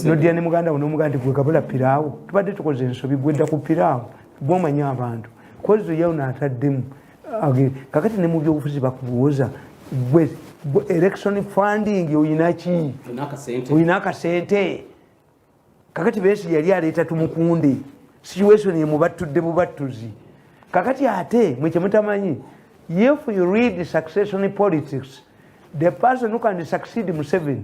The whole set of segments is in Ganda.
nodia ne muganda wonomugaa nti gwe kabula piraawo tubadde tukoze ensobi gwedda ku piraawo gwomanyi abantu kozi yawno ataddemu kakati ne mu byobufuzi bakubuuza gwe election funding oyinaki oyina akasente kakati besi yali aleeta tumukunde situation yemubattudde bubattuzi kakati ate mwe kyemutamanyi if you read succession politics the person who can succeed museven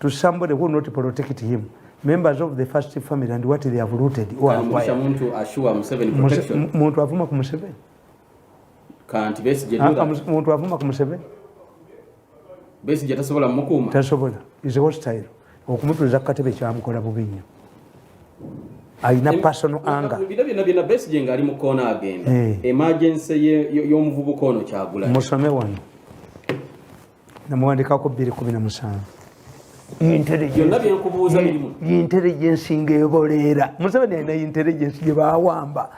to somebody who not protect him members of the first family and what they have looted or acquired muntu ashua museveni protection muntu avuma ku museveni kanti besi je ah, muntu avuma ku museveni besi je tasobola mukuma tasobola is hostile okumutuliza ku katebe kyamukola bubi nnyo alina personal anger bino bino bino besi je ngali mu kona agenda eh. emergency y'omuvubuka ono kyagula musome wano namuwandikako bbiri kumi na musanvu yintelligence ngaeboleera museveni alina intelligence gyebawamba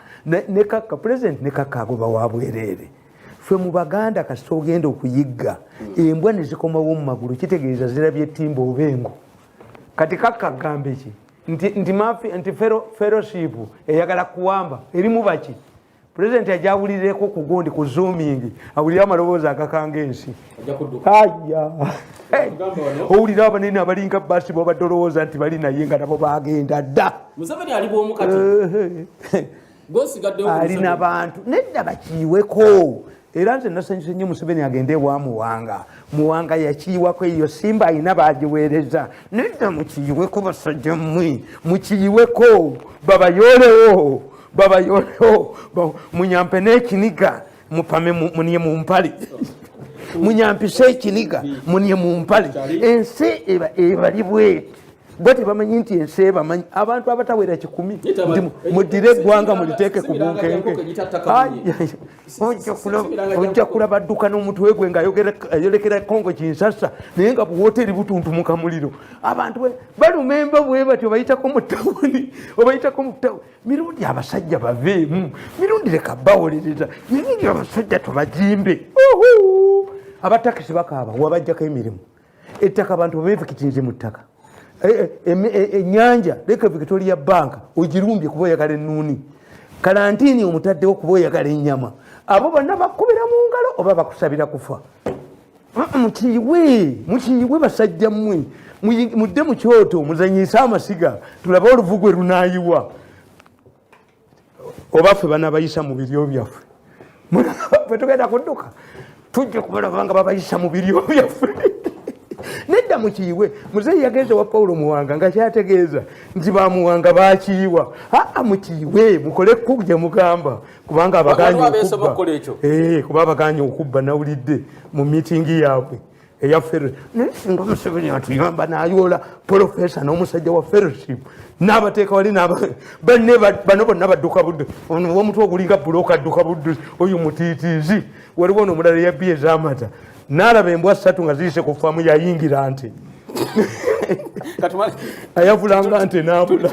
nekakka president nekakka agoba wabwereere fe mu baganda kasita ogenda okuyigga embwa nezikomawo mu magulu kitegeeza zirabye timba oba engo kati kakka agambeki nti fellowship eyagala kuwamba erimu baki pulezidenti ajja awulirireko ku gundi ku zoomingi awulire amaloboozi agakanga ensi aya owulira abanene abalinga basi bobadde olowooza nti bali naye nga nabo bagenda dda ali nabantu nedda bakiiweko era nze nasanyuse nnyo museveni agende ewa muwanga muwanga yakiyiwako eyo simba alina bagiweereza nedda mukiyiweko basajja mmwe mukiyiweko babayoolewo babayoolewo munyampe n'ekiniga mupame muniye mu mpale munyampise ekiniga muniye mu mpale ensi ebali bweti bwe tebamanyi nti ensi ebamanyi abantu abatawera kikumi nti mudire eggwanga muliteeke ku bunkenke ojja kulaba adduka n'omutwe gwe ngaayolekera kongo kinsasa naye nga buwoteeri butuntumuka muliro abantu balumemba bwe batyo obayitako mu tawuni obayitako mu tawuni mirundi abasajja baveemu mirundi leka bawolereza mirundi abasajja tubajimbe abatakisi bakaaba wabajjako emirimu ettaka abantu bevekitinze mu ttaka enyanja eh, eh, eh, leka victoria bank ogirumbye kuba oyagala enuuni kalantini omutaddewo kuba oyagala enyama abo bonna bakubira mu ngalo oba bakusabira kufa mukiyiwe mukiyiwe basajja mmwe mudde mu kyoto muzanyise amasiga tulabe oluvugwe lunayiwa oba ffe banabayisa mu biryo byaffe fwe tugenda kudduka tujja kubalaba nga babayisa mu biryo byaffe nedda mukiyiwe muzeeyi yagenze wa pawulo muwanga nga kyategeeza nti bamuwanga bakiyiwa aa mukiyiwe mukole kku gye mugamba kubanga abaganye okubba eh, kuba abaganye okubba nawulidde mu mitingi yaabwe eya ferre naye singa museveni atuyamba nayoola profesa n'omusajja wa ferreship n'abateeka wali banne bano bonna badduka budde ono womutwe ogulinga buloka adduka budde oyo mutiitiizi waliwo ono omulala eyabbi ezamata n'alaba embwa ssatu nga ziyise ku faamu yayingira nti ayavulanga nti nabula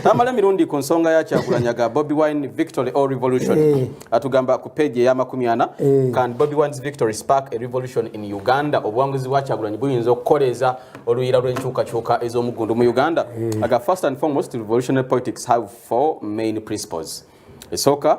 tamala emirundi ku nsonga ya kyagulanyaga bobi wine victory or revolution eh. atugamba ku page eya makumi ana eh. can bobi wines victory spark a revolution in uganda obuwanguzi bwa kyagulanyi buyinza okukoleeza oluyira lw'enkyukakyuka ez'omugundu mu uganda eh. aga first and foremost revolutionary politics have four main principles esooka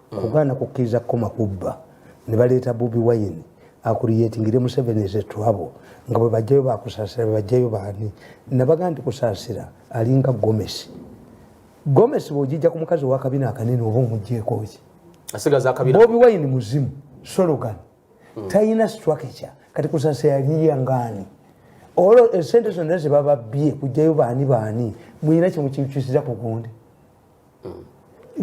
mm. kugaana kukkiriza kukoma kubba ne baleeta bobi wayini akuliyetingire museveni ezetwabo nga bwe bajjayo bakusaasira bwe bajjayo baani nabaga nti kusaasira alinga gomesi gomesi bwogijja ku mukazi owakabina akanene oba omugjeekooki bobi wayini muzimu sologan mm. talina structure kati kusaasira yaliya ngaani olwo esente zonna zebababbye kujjayo baani baani mulina kyemukikyusiza ku gundi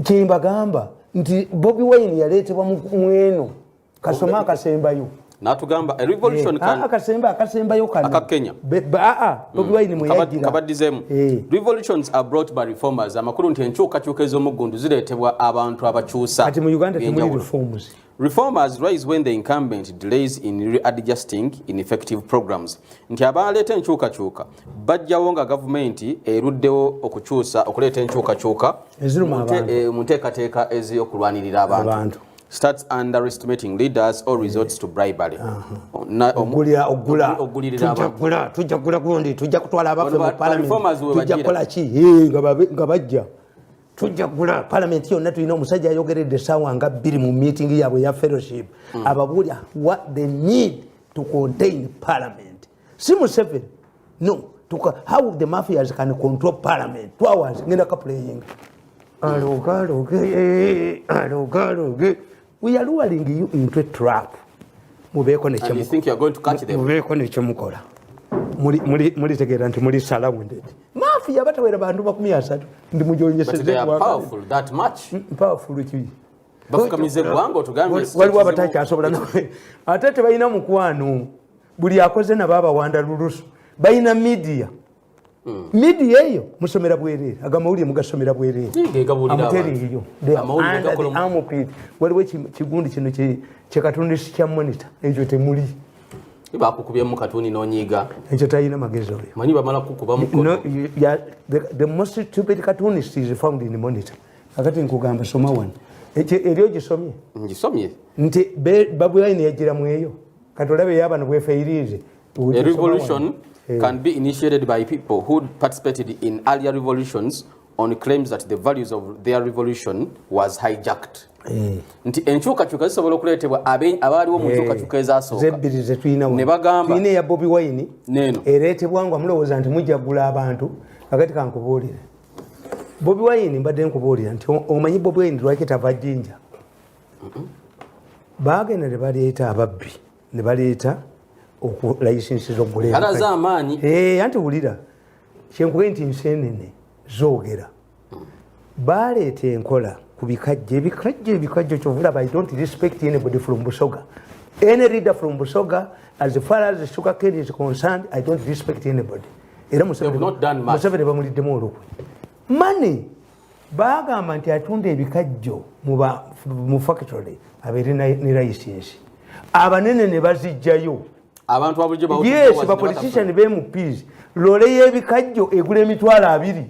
kyembagamba nti bobi wine yaleetebwa mweno kasoma akasembayo natugamba a revolution eh, can ah, akasemba akasembayo kana aka Kenya aa ah, ah, mm. bobi wine mwe yajira kabadizemu eh. revolutions are brought by reformers amakuru nti enchuka chuka ezo mugundu ziretebwa abantu abachusa ati mu Uganda temuli reforms Reformers rise when the incumbent delays in readjusting ineffective programs nti abaaleeta enkyukakyuka bajjawo nga gavumenti eruddewo okukyusa okuleeta enkyukakyuka eh, mu nteekateeka ez'okulwanirira abantu starts underestimating leaders or resorts to bribery tujja kugula gundi tujja kutwala abaffe mu palamenti tujja kukola ki nga bajja tujjagula palamenti yonna tulina omusajja ayogeredde esaawa nga bbiri mu meeting yaabwe ya fellowship mm. ababuulya what they need to contain parliament si museveni no tuka, how the mafias can control parliament two hours ngenda kaplaying aloga aloge aloga aloge we are luring you into a trap mubeeko nekyomubeeko nekyomukola mulitegeera nti muli surrounded maafi yaba tawera bantu makumi asatu ndi mujonyesezpowerful ki waliwo abatakyasobola nawe ate tebalina mukwano buli akoze nabo abawanda lulusu balina media Hmm. midia eyo musomera bwerere ago amawulire mugasomera bwerere amuteringiyo amupid waliwo ekigundi kino kyekatonda esi kya monita ekyo temuli bakukubyemu katuni nonyiga ekyo talina magezi oyo manyi bamala kukuba mukono the most stupid cartoonist is found in monitor akati nkugamba soma wano eri ogisomye ngisomye nti babuline yajira mweyo kati olabe yabano bwefeirize A revolution eh. can be initiated by people who participated in earlier revolutions on claims that the values of their revolution was hijacked eh. nti enkyukakyuka zisobola okuleetebwa abaaliwo mu eh. nkyukakyuka ezasookane bobi wine neeno ereetebwa nga mulowooza nti mujagula abantu kakati kankubuulire bobi wine mbadde nkubuulira nti omanyi bobi wine lwaki tava jinja baagenda ne baleeta ababbi ne baleeta okulayisinsi z'okuleeraalaze amaanyi eh, anti wulira kyenkube nti nseenene zoogera baaleeta enkola ku bikajjo ebikajjo ebikajjo kyovulaba i don't respect anybody from busoga any reader from busoga as far as sugar cane is concerned i don't respect anybody era museveni bamuliddemu olukwe money bagamba nti atunda ebikajjo mu factory abeere ne layisinsi abanene ne bazijjayo abantu abulijoyes bapolitician bemupiz lole yebikajjo egula emitwalo abiri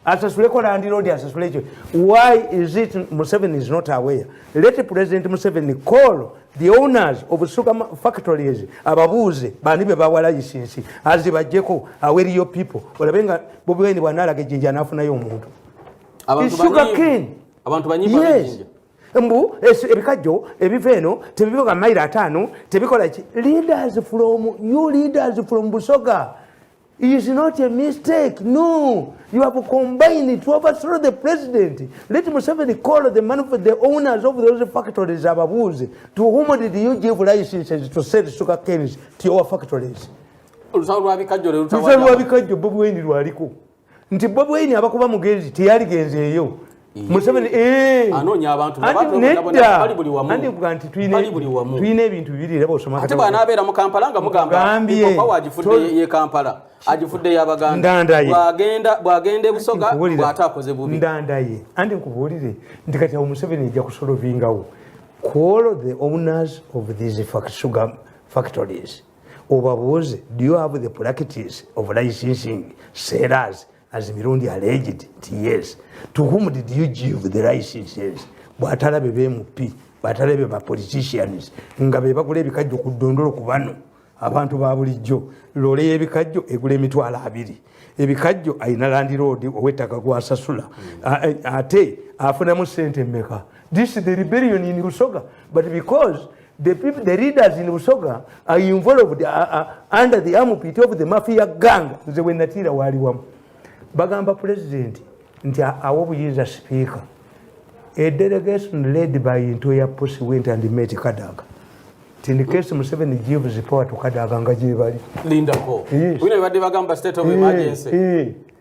asasuleko landiroodi asasule ekyo why is it museveni is not aware let president museveni call the owners of sugar factories ababuuze bani be bawa layisinsi azibajjeko aweriyo people olabe nga bobi wine bwanaalaga ejjinja anaafunayo omuntu sugar cane abantu banyimba yes. mbu ebikajjo ebiva eno tebibiga mairo ataano tebikola ki leaders from you leaders from busoga is not a mistake. No, you have combined to overthrow the president. Let Museveni call the man for the owners of those factories, Ababuzi. To whom did you give licenses to sell sugar canes to your factories? Olusawo lwa bikajjo lero tawala. Olusawo lwa bikajjo Bobi Wine lwaliko. Nti Bobi Wine abakuba mugezi teyali genzeeyo. museveni eh. anoonya abantu neddaandikuga nti tulina ebintu bibiri era bosomaate bwanaabeera mu kampala nga mugambaopawo agifudde ye kampala agifudde yabagandandandaye bwagenda ebusoga bwate akoze bubi ndandaye andi nkubuulire nti kati awo museveni ejja kusolovingawo kuolo the owners of these sugar factories obabuuze do you have the practice of licensing sellers as mirundi alleged nti yes to whom did you give the licenses bwatalabe bmp bwatalabe ba politicians nga bebagula ebikajjo ku ddondolo ku bano abantu ba bulijjo loole y'ebikajjo egula emitwalo abiri ebikajjo alina landiroodi ow'ettaka gwasasula ate afunamu sente mmeka this the rebellion in busoga but because The people, the leaders in Busoga are involved uh, uh, under the armpit of the mafia gang. Nze we natira wali wamu. Bagamba president nti awo buyiza speaker. A delegation led by Ntoya Pussy went and met Kadaga. In the case Museveni gives power to Kadaga nga jibali. Linda ko. Yes. Wino ibadde bagamba state of emergency. Yes. Yes.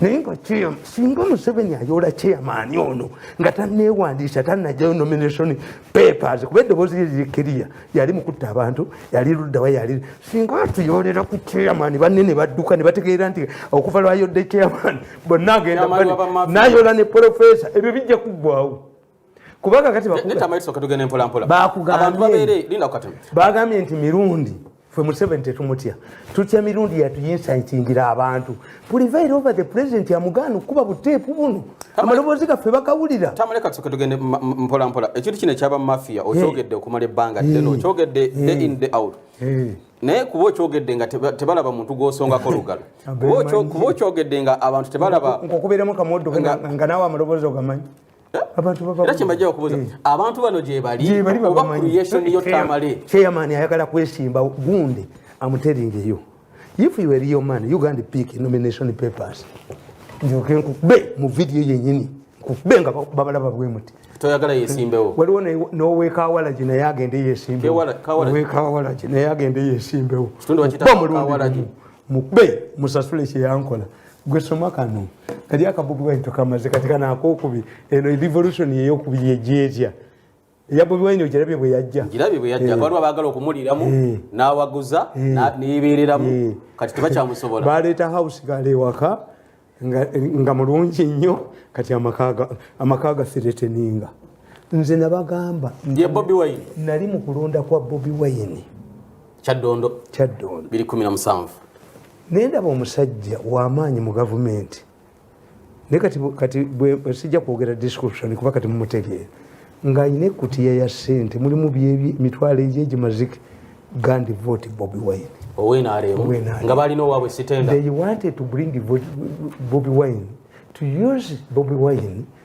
naye nga singa museveni ayoola chairman ono nga tanewandiisa tanajayo nomination papers kuba eddoboozi lye liri kiriya yali mukutta abantu yali luddawa yali singa atuyoolera ku chairman banne ne badduka ne bategeera nti okuva lwayodde chairman bonna agenda nayoola ne profesa ebyo bijja kuggwawo kubanga kati bagambye nti mirundi fwe museveni tetumutya tutya mirundi yatuyinsayitingira abantu pulivire over the president amugaana okukuba buteepu buno amaloboozi gaffe bakawulira tamulekatuketugende mpolampola ekintu kino ekyaba mafia okyogedde okumala ebbanga ddene okyogedde day in day out naye kuba okyogedde nga tebalaba muntu gwosongako lugalo kuba okyogedde nga abantu tebalaba nkukubeeremu kamoddo nga naawe amaloboozi ogamanyi era kyembajja okubuuza eh. abantu bano gyebali oba creation yo tamale chairman ayagala kwesimba gunde amuteringeyo if you were your man uganda pick nomination papers njoke nkube mu video yenyini nkube nga babalaba bwemuti toyagala yesimbewo waliwo nowekawalagi naye agende yesimbewowekawalagi naye agende yesimbewo mukube musasule kyeyankola gwe soma kano kali akabugu bwayi tukamaze kati kana akokubi eno revolution yeyo kubi yejeja ya bobi wine ojarabe bwe yajja njirabe bwe yajja eh. balwa bagala okumuliramu eh. nawaguza eh. nibereramu kati tebakyamusobola baleta house gale waka nga, nga mulungi nnyo kati amakaga amakaga sireteninga nze nabagamba ye bobi wine nali mukulonda kwa bobi wine kyaddondo kyaddondo 217 naye ndaba omusajja wamaanyi mu gavumenti naye kati kati sijja kwogera description kuba kati mumutegeera ng'alina ekkutiya ya ssente mulimu byemitwalo egyo egimazike gandi vote bobi wine nga balina owabwe sitenda they wanted to bring bobi wine to use bobi wine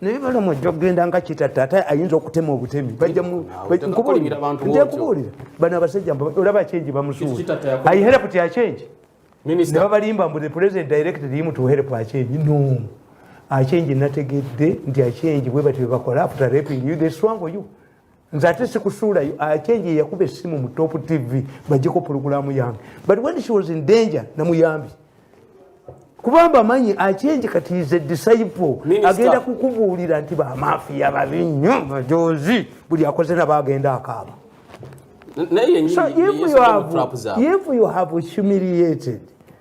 naye balamu ajja kugenda nga kitatta ate ayinza okutema obutemi bajjakubuulira bano abasajja olaba kyengi bamusuula ayiherepu tya kyengi nebabalimba mbu the president directed him to help achenji no achenji nategedde nti achenji bwe batyo bakola after raping you they swango you nze ate sikusuulayo acenje yeyakuba essimu mu top tv bajeko pulogulaamu yange but when she was in danger namuyambi kubamba amanyi acenje kati is a disciple agenda kukubuulira nti bamafiya babi nnyo majozi buli akoze naba agenda akaaba so if you have, if you have humiliated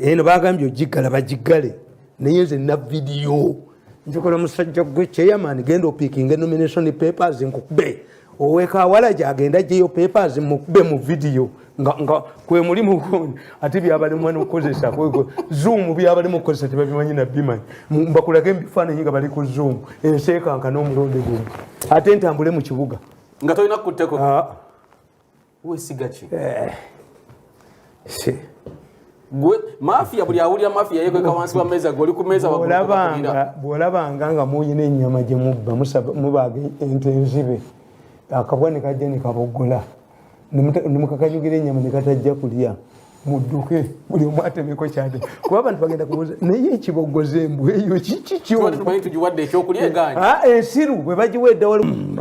eno bagambye ogiggala bagiggale naye nze na vidiyo njukula musajja gwe chairman genda opikinge nomination papers nkukube owekawala gyagenda jeyo papers mukube mu vidiyo nga kwemuli mukondi ate byabalimwa nokukozesa zoom byabalimu okukozesa tebabimanyi nabimanyi mbakulage mubifaananyi nga bali ku zoom enseekanka n'omulundi gumu ate ntambule mu kibuga nga tolina kukutteko ah. wesiga ki eh. gwe mafia buli awulira mafia yekweka wansi wa meza goli ku meza bwolabanga nga muyina enyama gye mubba mubaga ente enzibe akabwa ne kajja ne kabogola ne mukakanyugira enyama ne katajja kulya mudduke buli omu atemeko kyade kuba abantu bagenda kubuuza naye ekibogoza embwa eyo kikikyoensiru bwe bagiwa edda wali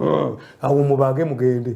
awo mubage mugende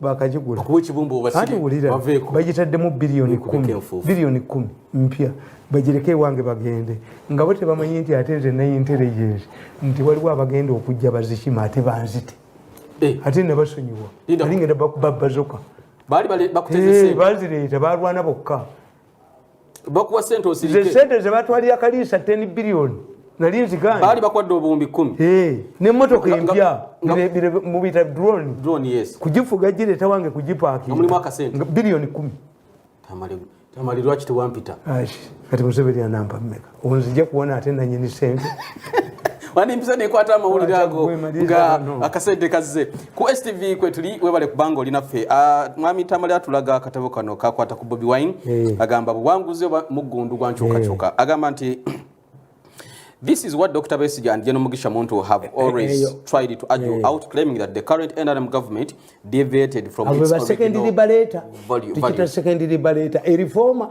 bakagigula bagitaddemu biliyoni kumi biliyoni kumi mpya bagireko ewange bagende nga bo tebamanyi nti ate nze naye intelligence nti waliwo abagenda okujja bazikima ate banzite eh. ate nebasonyiwa ali ngenda bakubabazoka bazireeta balwana bokka bakuwa sente osirike sente ze batwalira kaliisa 10 billion nali nziganye bali bakwadde obuwumbi 10 eh ne motoka empya bile mu bita drone drone yes kujifuga jile tawange kujipaki muli mwaka sente billion 10 tamali tamali lwachi tuwampita ashi kati museveni anamba mmeka onzija kuwona ate nanyini sente wandi mpiza nekwata amawulire ago nga akasente kazze ku stv kwetuli webale kubanga oli naffe ah, mwami tamale atulaga akatabo kano kakwata ku bobi wine eh. agamba buwanguzi oba muggundu gwankyukakyuka eh. agamba nti This is what Dr. Besige and General Mugisha Muntu have eh, eh, always eh, tried to argue out, claiming that the current NRM government deviated from its original value. Value. Secondary bareta, a reformer.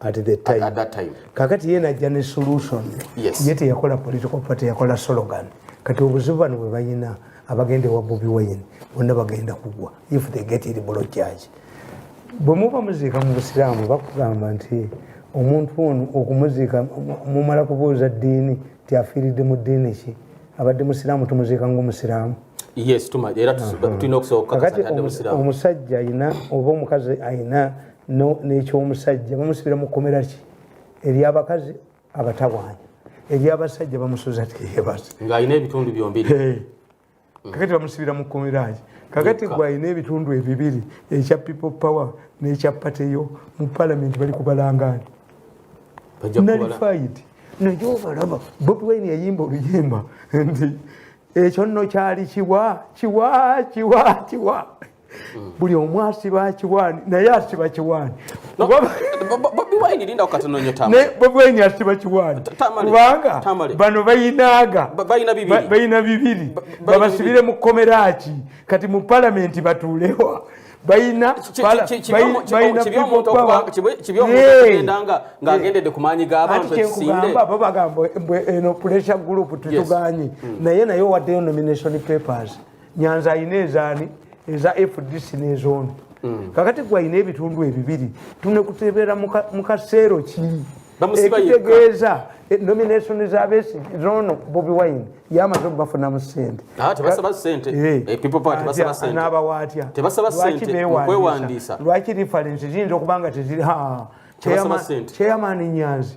at the time. At that time. Kakati yena ajja ne solution. Yes. Yete yakola political party yakola slogan. Kati obuzibu bano bwe bayina abagenda ewa Bobi Wine bonna bagenda kugwa if they get it below charge. Bwe muba muziika mu Busiraamu bakugamba nti omuntu ono okumuziika mumala kubuuza ddiini nti afiiridde mu ddiini ki abadde musiraamu tumuziika ng'omusiraamu yes tuma era tulina okusooka kakati omusajja ayina oba omukazi ayina nekyomusajja bamusibira mukomera ki eryabakazi abatawaanya eryabasajja bamusuza teyebasa ngaalina ebitundu byombiri mm. kakati bamusibira mukomeraki kakati gwalina ebitundu ebibiri ekya people power nekya pateyo mu palamenti bali kubalangani nalifaid najo obalaba bobi wine yayimba oluyimba nti ekyo nno kyali kiwa kiwa kiwa kiwa buli omu asiba kiwani naye asiba kiwani bobiwaini asiba kiwani kubanga bano bayinaaga bayina bibiri babasibire mu kkomera ki kati mu palamenti batuulewa bayina bo bagamba eno pressure group tetuganye hmm. naye naye owaddeyo nomination papers nyanza alina ezaani eza fdc nezono mm. kakati gwe alina ebitundu ebibiri tunekutebeera mu kaseero ki ekitegeeza eh, nomination za besi zono bobi wine yamaze okubafunamu sente ah, eh, eh, n'abawa atya lwaki reference ziyinza okuba nga teziri chairman nyanzi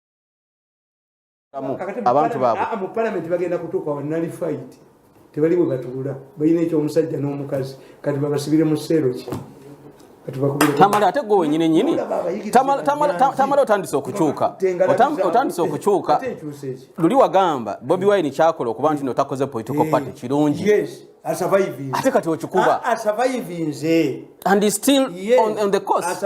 abantu baabwe ah, mu palamenti bagenda kutuuka wa nalifayiti tebali bwe batuula balina ekyomusajja n'omukazi kati babasibire mu seero ki tamale ate gwe wenyini nyini tamale otandise okukyuka otandise okukyuka luli wagamba bobi wine kyakola okuba nti notakoze political eh, party kirungi ate kati okikuba ah, and still on the course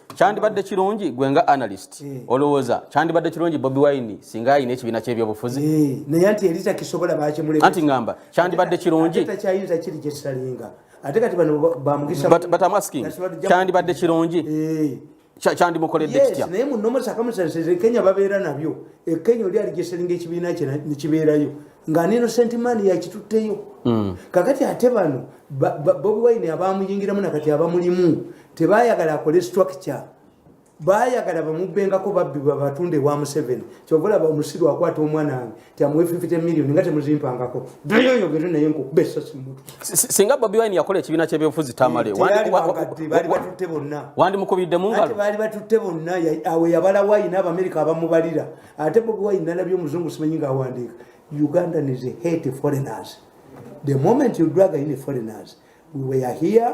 kyandibadde kirungi gwe nga analyst eh. olowooza kyandibadde kirungi bobi wine singa ayina ekibiina kyebyobufuzi eh, naye nti eri takisobola bakimuleka anti ngamba kyandibadde kirungi takyayinza kiri gyekisalinga ate kati bano bamugisa but am asking kyandibadde kirungi eh. kyandimukoledde kitya naye munomusakamusasire kenya babeera nabyo ekenya oli ali gyesalinga ekibiina kye nekibeerayo nga nino sentimani yakitutteyo hmm. kakati ate bano bobi wine abamuyingiramu nakati abamulimu tebayagala akole structure bayagala bamubbengako babbi babatunde wa museveni kyovolaba omusiru akwata omwana wange tiamuwe 50 million nga temuzimpangako dayoyogere naye nkukuba esasi mutu singa bobi wine yakola ekibiina kyebyobufuzi tamale bali batutte bonna wandi mukubidde mungalo bali batutte bonna awe yabala wine abamerika abamubalira ate bobi wine nalabye omuzungu simanyi nga awandiika ugandan is a hate foreigners the moment you drag in foreigners we were here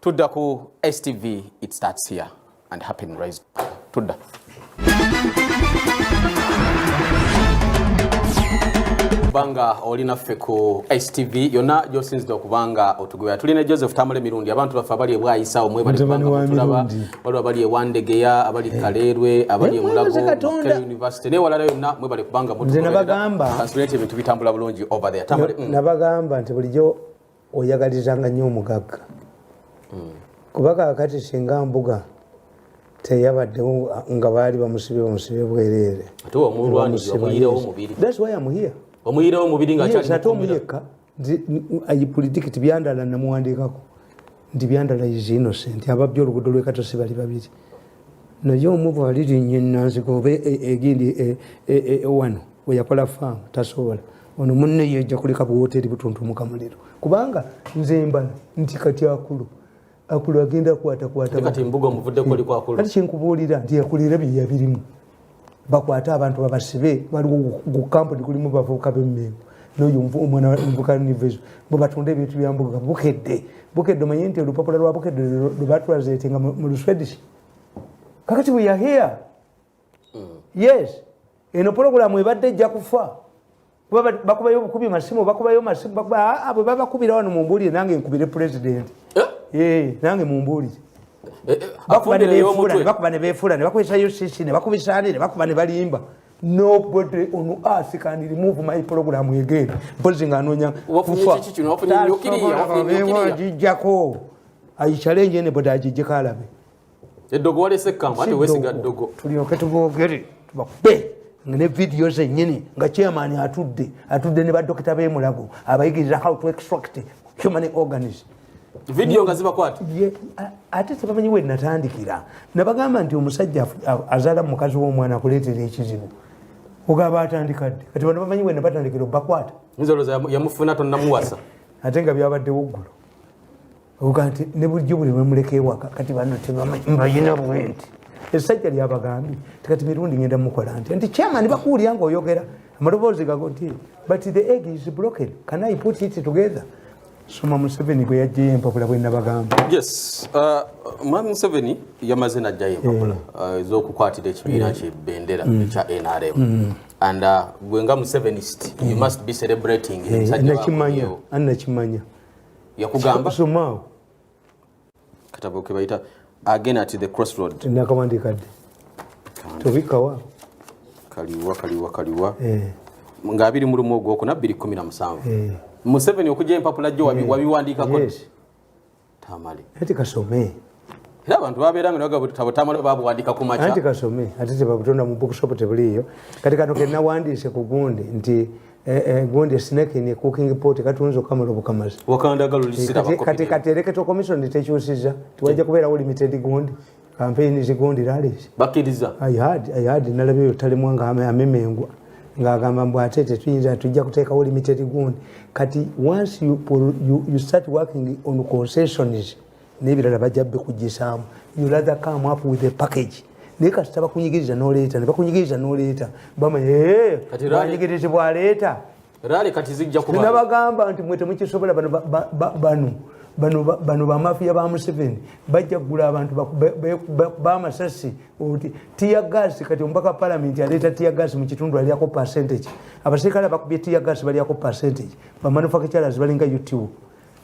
tudda ku stv it starts here and happen rise tudda kubanga oli naffe ku stv yonna gyosinzidde okubanga otugobera tuli ne joseph tamale mirundi abantu baffe abali ebwayisaawo mwebalibangabatulaba waliwo abali ewandegeya abali eh. kaleerwe abali emulago eh, university naye walala yonna mwebale kubanga mutukansulaete ebintu bitambula bulungi over there mm. nabagamba nti bulijjo oyagalizanga nnyo omugagga hmm. kuba kakati singa mbuga teyabaddewo nga baali bamusibe bamusibe bwereere ate omuyekka i predict byandala namuwandiikako nti byandala is innocent ababbi olugudo lwekatosi bali babiri naye omu bwalirinnya enanziga oba e, e, egindi e, wano weyakola faamu tasobola ono munne yeja kuleka buwoteri butuntumuka muliro kubanga nze mbala nti kati akulu akulu agenda kwatakwata kati kyenkubuulira nti akulira byeyabirimu bakwate abantu babasibe waliwo gukampuni kulimu bavubuka bemengo noyo omwana muvuka nivezo mubatunde ebintu byambuga bukedde bukedde omanye nti olupapula lwa bukedde lwebatulazetenga mu luswedish kakati we are here mm. yes eno pulogulamu ebadde ejja kufa kuba bakubayo obukubi masimu bakubayo masimu bakuba ah, abo babakubira wano mumbuulire nange nkubire pulezidenti eh? eh, nange mumbuulire eh, bakuba ne befuula ne bakozesa ucc ne bakubisaani ne bakuba ne balimba nobody on earth can remove my program again mpozi nga anoonya kufaajijjako ayicalenje ne boda ajijjeko alabe eddogo walese ekkangu ate wesiga ddogo tulyoke tubogere tubakube nga ne vidiyo zenyini nga chairman atudde atudde ne badokita bemulago abayigirira how to extract human organs vidiyo nga zibakwata ate tebamanyi we natandikira nabagamba nti omusajja azaala mu mukazi w'omwana akuleetera ekizibu ogaba atandika dde kati bano bamanyi we nabatandikira obakwata yamufuna tonamuwasa ate nga byabaddewo ggulu oga nti ne bulijjo buli lwemuleka ewaka kati bano tebamanyibayina bwenti esajja lyabagambye tikati mirundi ngenda mukola nti nti chairman bakuwulira nga oyogera amaloboozi gago nti but the egg is broken can i put it together soma museveni gwe yajjayo empapula bwenabagamba yes uh, mwami museveni yamaze najjayo empapula eh. uh, ezokukwatira ekibiina eh. kyebendera mm. ekya nrm mm. and uh, gwe nga musevenist you eh. must be celebrating nakimanya anakimanya yakugamba somao katabo ke bayita again at the crossroad nakawandi kadde tobikawa kaliwa kaliwa kaliwa eh. nga abiri mu lumu ogwokuna bbiri kumi na musanvu eh. museveni okujja empapula jo eh. wabiwandiikako yes. tamale ati kasome era abantu babeera nga nagabutamala babuwandika ku makya anti kasome ate tebabutonda mu bookshop tebuliiyo kati kano kenawandiise ku gundi nti eh, eh, gundi esnake ne cooking pot katunza okamala obukamazi wakandagalulisirkati eh, kati ereketo commission tekyusiza tiwajja kubeerawo limited gundi kampeyini zigundi laleesi bakiriza ihad nalaba eyo talemwa nga amemengwa ng'agamba mbu ate tetuyinza tujja kuteekawo limited gundi kati once you, you, you start working on concessions nebirala bajja bikujisaamu yulatha come up with a package naye kasita bakunyigiriza noleeta nebakunyigiriza noleeta bamanyigirizi bwaleeta nabagamba nti mwe temukisobola bano bano bano bamafiya ba museveni bajja kugula abantu bamasasi oti tiyagas kati omubaka wa palamenti aleeta tiyagas mu kitundu alyako percentage abaserikale abakubye tiyagas balyako percentage bamanufacturers balinga utu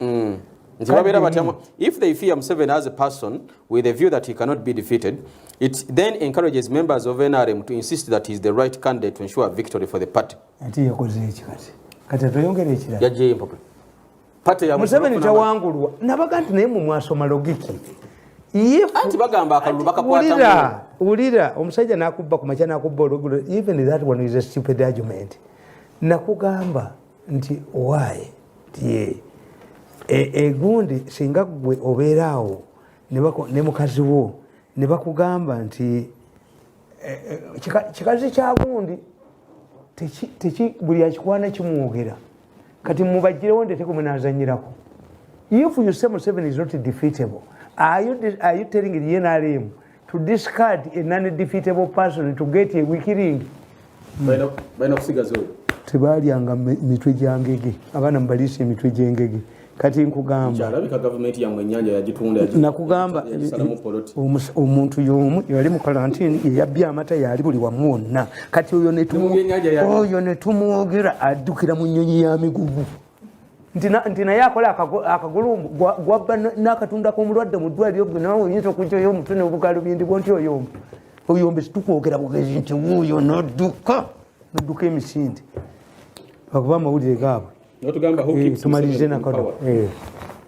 mm. nti babeera batya if they fear museven as a person with a view that he cannot be defeated it then encourages members of nrm to insist that he is the right candidate to ensure victory for the party ati yakoze eki kati kati atweyongera ekirala yajjeyo empapula pate ya museveni tawangulwa nabaga nti naye mu mwasoma logiki anti bagamba akalulu bakakwata wulira omusajja nakubba ku makya nakubba olugulo even that one is a stupid argument nakugamba nti owaye tiye egundi e singa gwe obeera awo ne mukazi wo ne bakugamba nti e, e, kikazi kya gundi buli akikwana kimwogera kati mubagirewo ndetekwe munazanyirako if you say museven is not defeatable are you, are you telling the nrm to discard a non-defeatable person to get a weak ring tebalyanga mitwe gyangege abaana mubaliisa emitwe gyengege kati nkugambnakugamba omuntu yomu yali mu kalantini yeyabbye amata yaali buli wamu wonna kati oyo netumwogera addukira mu nyonyi ya migugu nti naye akola akagulumbu gwabba nakatunda komulwadde mu ddwaliro gwe nawe oyinza okujjayo omutwe nebugalubindi bwo nti oyomba oyomba situkwogera bugezi nti wuuyo nodduka nodduka emisinde bakuba amawulire gaabwe eh, tumalirize nakano eh.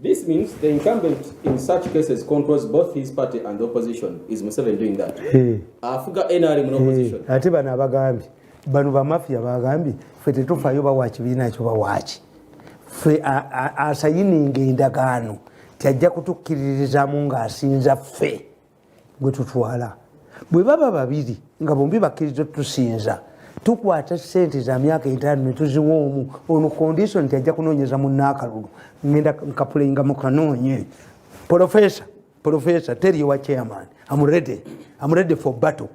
This means the incumbent in such cases controls both his party and the opposition. Is Museveni doing that? Hey. Afuga NRM no opposition. Hey. Ate bana abagambi. Bano ba mafia bagambi. Fe tetufa yo bawachi bina ekyo bawachi. Fe asayininga endagaano. Tiyajja kutukkiririzamu ng'asinza ffe. gwe tutwala bwe baba babiri nga bombi bakkiriza tusinza tukwata sente za myaka etaano netuziwa omu ono condition nti ajja kunoonyeza munaakalulu ngenda nkapulayinga mukanoonye profesa profesa teri ewa chairman am ready am ready for battle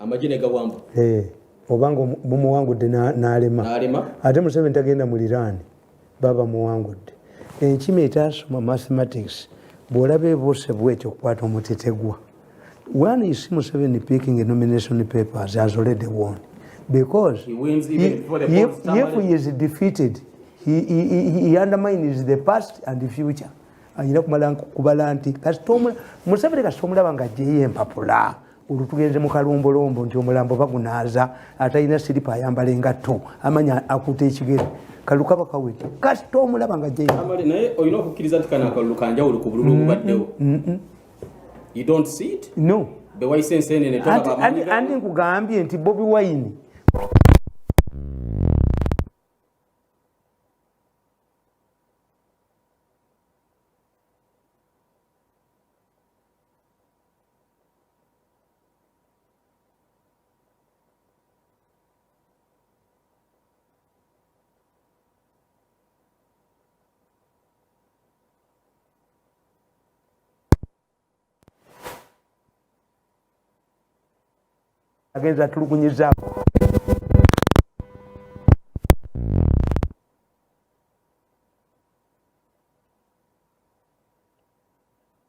amagye ne gawamba eh, oba nga bumuwangudde n'alema ate museveni tagenda mu liraani baba muwangudde enkima etasoma mathematics bw'olaba ebuuse bwetyo okukwata omutetegwa one you see museveni picking a nomination papers has already won because he wins even he, before the he, if, if he is defeated he, he, he, he undermines the past and the future ayina kumala kubala nti kasita museveni kasita omulaba nga ajeyo empapula olwo tugenze mu kalombolombo nti omulambo bagunaaza atalina siripa ayambala engatto amanya akuta ekigere kalulu kaba kaweke kasita omulaba nga jenaye olina okukkiriza nti kana akalulu kanjawulo ku bululu obubaddewo no bewayise ensenene andi nkugambye nti bobi wayini agenza atulugunyizaamu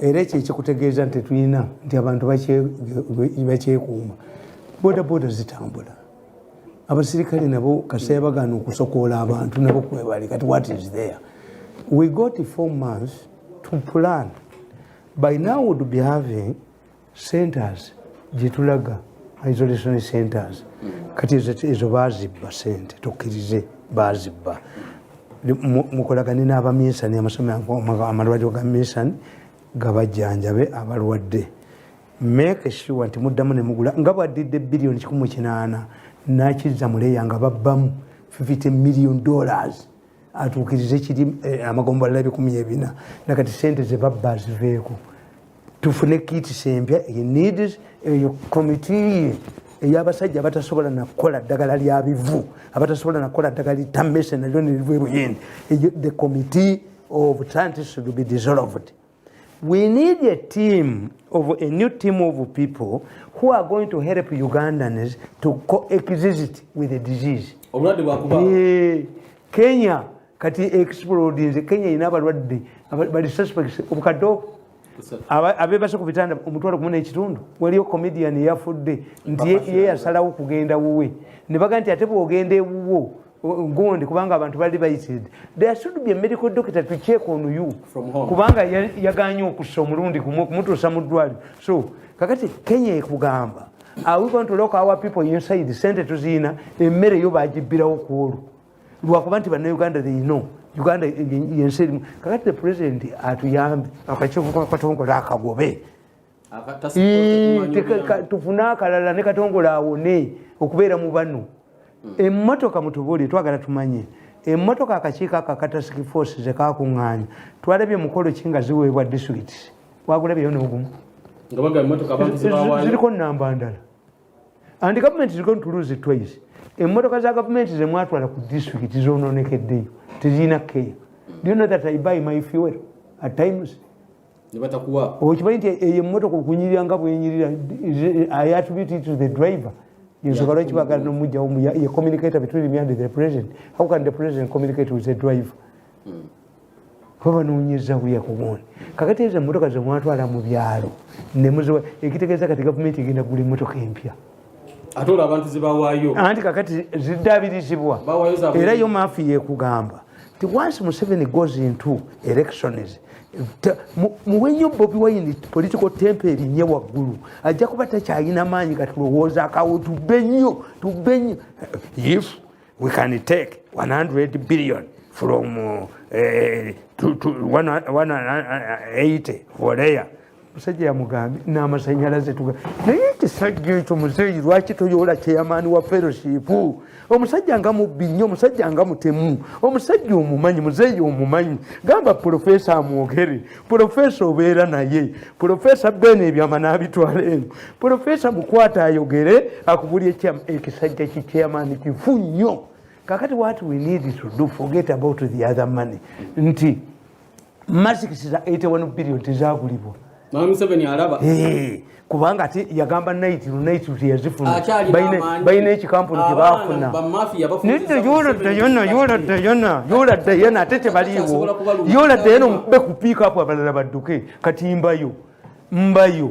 era ekyo ekikutegeeza nti tulina nti abantu bakyekuuma boda boda zitambula abasirikale nabo kasita yabagaana okusokoola abantu nabo kwebali kati what is there we got four months to plan by now would be having centers gyetulaga isolation centers mm. kati ezo bazibba sente tukkirize bazibba mukolagane n'abaminsani amalwaliro ga minsani gabajjanjabe abalwadde make sure nti muddamu nemugula nga bwaddidde biliyoni kikumu kinaana nakizza muleya nga babbamu 50 million dollars atuukirize kiri eh, amagombolola ebikumi ebina nakati sente zebabba ziveeko tufune kitisi empya needs eyo komitiye eyabasajja abatasobola nakukola ddagala lya bivu abatasobola nakukola ddagala litamese nalyo neriva ebuyindi the committee of scientists should be dissolved We need a team of a new team of people who are going to help Ugandans to coexist with the disease. Obulwadde bwakuba. Eh, Kenya kati explode nze Kenya ina balwadde bali suspects obukaddo abebase ku bitanda omutwalo kumuna ekitundu waliyo comedian yafudde nti ye yasalawo kugenda wuwe ne baga nti ate bwogenda ewuwo gundi kubanga abantu bali bayitiridde there should be a medical doctor to check on you kubanga yaganye okussa omulundi gumu okumutuusa mu ddwaliro so kakati kenya ekugamba are we going to lock our people inside sente tuziina emmere yo bagibbirawo ku olwo lwakuba nti bannauganda they know uganda yensi erimu kakati the president atuyambe akakivukatongola akagobe tufune akalala ne katongola awone okubeera mu bano hmm. emmotoka mutubuulire twagala tumanye emmotoka akakiiko ako akatasiki force zekakuŋŋaanya twalabye mukolo ki nga ziweebwa disitulikiti wagulabyeyo n'ogumu ziriko namba ndala and gavumenti ziriko ntuluzi twice emmotoka za gavumenti zemwatwala ku disitulikiti zononekeddeyo tezirina keya do you know that i buy my fuel at times okimanyi nti eyo emotoka okunyirira nga bwenyirira i attribute it to the driver ensonga lwaki bagala nomujjawo ye communicator between me and the president how can the president communicate with the driver hmm. kuba banonyeza buya kubona kakati ezo emotoka zemwatwala mu byalo nemuziwa ekitegeeza kati gavumenti egenda kugula emotoka empya ate olwo abantu zebawaayo anti kakati ziddabirizibwa era yo maafi yekugamba nti once museveni goes into elections muwe nnyo bobi wayini political tempe erinye waggulu ajja kuba takyalina maanyi gatulowooza akawo tubbe nnyo tubbe nnyo if we can take 100 billion from uh, eh, 180 volea musajja yamugambye namasanyalaze tuga naye ekisajja ekyo muzeeyi lwaki toyoola kyeyamaani wa fellowship omusajja nga mubbi nnyo omusajja nga mutemu omusajja omumanyi muzeeyi omumanyi gamba pulofeesa amwogere pulofeesa obeera naye pulofeesa beena ebyama n'abitwala eno pulofeesa mukwata ayogere akubuli ekisajja kikyeyamaani kifu nnyo kakati wat we need to do forget about the other money nti masks za 81 billion tezagulibwa kubanga ati yagamba night night teyazifuna balina ekikampuni kyebafuna yoladayana ate tebaliiwo yoladayana omukube ku piika apo abalala badduke kati mbayo mbayo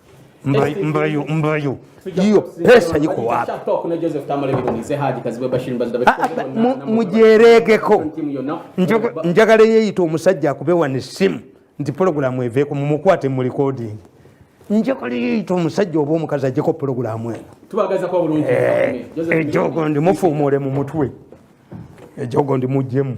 mbayo mbayo hiyo pesa iko wapi? Mujeregeko njagala yeyita omusajja akubewa ne simu nti pulogulamu eveeko mumukwate mu recording njagala yeyita omusajja oba omukazi ajeko pulogulamu eno ejogo eh, eh, ndi mufuumuule mu mutwe ejogo ndi mujjemu